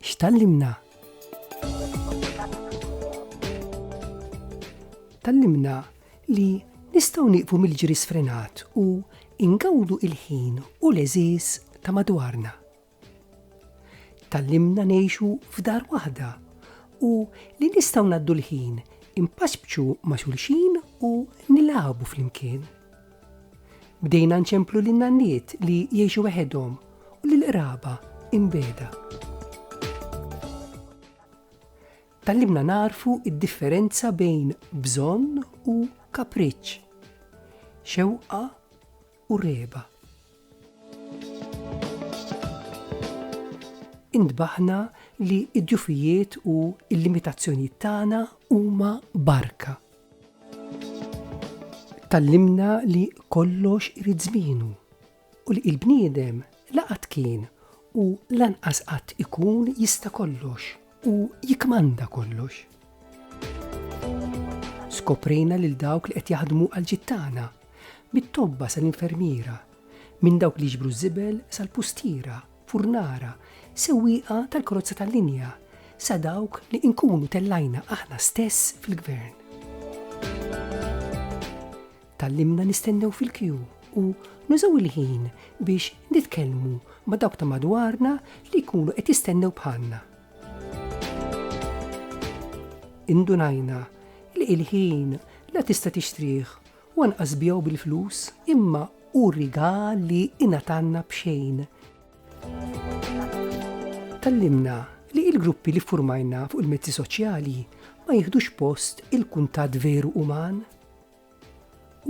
X'tallimna? Tallimna li nistgħu nieqfu mill-ġri sfrenat u ingawdu il-ħin u l-eżiż ta' madwarna. Tallimna ngħixu f'dar waħda u li nistgħu naddu l-ħin impaċbċu ma' xulxin u nilagħbu flimkien. Bdejna nċemplu lin-nanniet li jgħixu weħedhom u lill-qraba imbegħda. Tgħallimna nagħrfu d-differenza bejn bżonn u kapriċċ, xewqa u reba. Intbaħna li d-djufijiet u l-limitazzjonijiet tagħna huma barka Tallimna li kollox irid żmienu u li l-bniedem la qatt kien u lanqas qatt ikun jista' kollox u jikkmanda kollox. Skoprejna lil dawk li qed jaħdmu għall-ġid tagħna, mit-tobba sal-infermiera, minn dawk li jiġbru ż-żibel sal-pustiera furnara, sewwieqa tal-karozza tal-linja, sa dawk li inkunu tellajna aħna stess fil-gvern. Tgħallimna nistennew fil-kju u nużaw il-ħin biex nitkellmu ma' dawk ta' madwarna li jkunu qed jistennew bħalna. Indunajna li l-ħin la tista' tixtrih Hu anqas biegħu bil-flus, imma hu rigal li ingħatalna b'xejn. Tgħallimna li l-gruppi li ffurmajna fuq il-mezzi soċjali ma jiħdux post il-kuntatt veru uman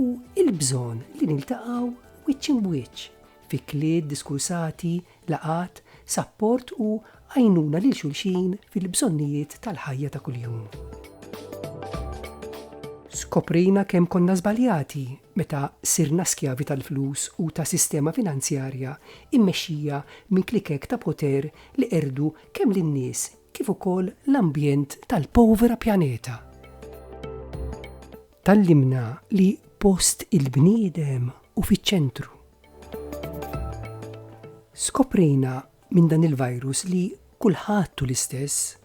u il-bżonn li niltaqgħu wiċċ imbwiċċ fi klied diskursati laqgħat, sapport u għajnuna lil xulxin fil-bżonnijiet tal-ħajja ta' kuljum. Skoprejna kemm konna żbaljati meta sirna skjavi tal-flus u ta' sistema finanzjarja mmexxija minn klikek ta' poter li qerdu kemm lin-nies kif ukoll l-ambjent tal-povera pjaneta. Tgħallimna li post il-bniedem hu fiċ-ċentru Skoprejna minn dan il-virus li kulħadd hu l-istess,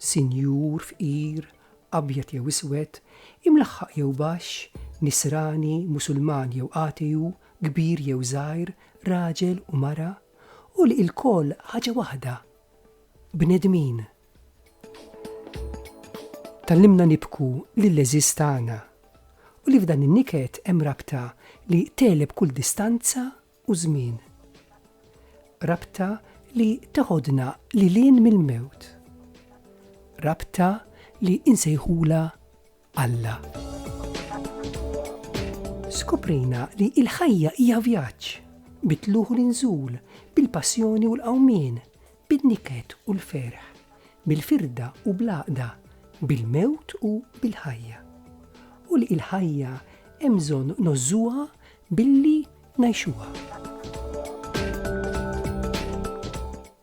sinjur, fqir, abjad jew iswed, imlaħħaq jew baxx, nisrani, musulman jew ateu, kbir jew żgħir, raġel u mara, u li lkoll ħaġa waħda, bnedmin! Tgħallimna nibku lill-għeżież tagħna u li f'dan in-niket hemm rabta li tegħleb kull distanza u żmien. Rabta li teħodna lil hinn mill-mewt. Rabta li nsejħulha Alla. Skoprejna li l-ħajja hija vjaġġ, bit-tlugħ u l-inżul, bil-passjoni u l-qawmien, bin-niket u l-ferħ, bil-firda u bl-għaqda, bil-mewt u bil-ħajja. U li l-ħajja hemm bżonn nożżuha billi ngħixuha.